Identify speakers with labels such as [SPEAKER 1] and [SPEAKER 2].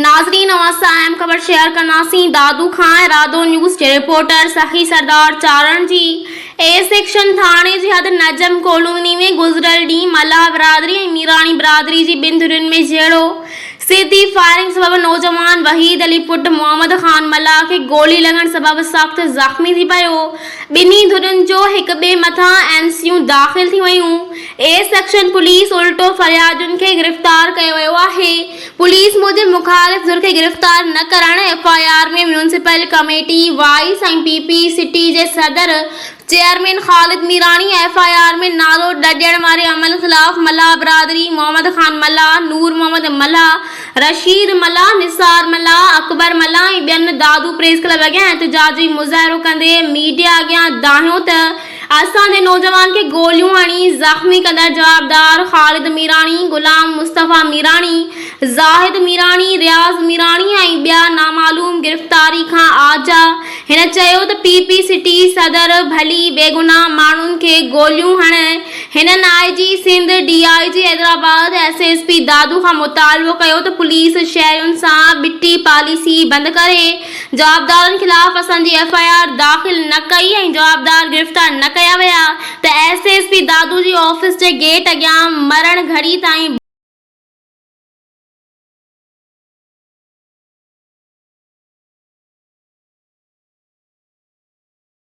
[SPEAKER 1] ناظرين اوهان سان اهم خبر شيئر ڪنداسين دادو کان ۽ رادو نيوز جي رپورٽر سخي سردار چارڻ جي اي سيڪشن ٿاڻي جي حد نجم ڪالوني ۾ گذريل ڏينهن ملاح برادري ۽ ميراڻي برادري جي ٻن ڌرين ۾ جهيڙو سيڌي فائرنگ سبب نوجوان وحيد علي پٽ محمد خان ملاح کي گولي لڳڻ سبب سخت زخمي ٿي پيو ٻنهي ڌرين جو هڪ ٻئي مٿان اين سيون داخل ٿي ويون اي سيڪشن پوليس الٽو فريادين کي گرفتار ڪيو ويو آهي پوليس موجب مخالف ڌر کي گرفتار نه ڪرڻ F I R ۾ municipal committee vice ۽ P P city جي صدر chairman Khalid Mirani F I R ۾ نالو نه ڏيڻ واري عمل خلاف ملاح برادري محمد خان ملاح، نور محمد ملاح، رشيد ملاح، نثار ملاح، اڪبر ملاح ۽ ٻين دادو پريس ڪلب اڳيان احتجاجي مظاهرو ڪندي ميڊيا اڳيان دانهيو ته اسان جي نوجوان کي گوليون هڻي زخمي ڪندڙ جوابدار خالد ميراڻي، غلام مصطفيٰ ميراڻي، زاهد ميراڻي، رياض ميراڻي ۽ ٻيا نامعلوم گرفتاري کان آجا. هن چيو ته پي پي سٽي صدر ڀلي بيگناهه ماڻهن کي گوليون هڻي. هنن I G Sindh, D I G Hyderabad, S S P Dadu کان مطالبو ڪيو ته پوليس شهرين سان ٻٽي پاليسي بند ڪري. جوابدارن خلاف اسان جي ايف آء آر داخل نه ڪئي ۽ جوابدار گرفتار نه ڪيا ويا ته ايس ايس پي دادو جي آفيس جي گيٽ اڳيان مرڻ گهڙي تائين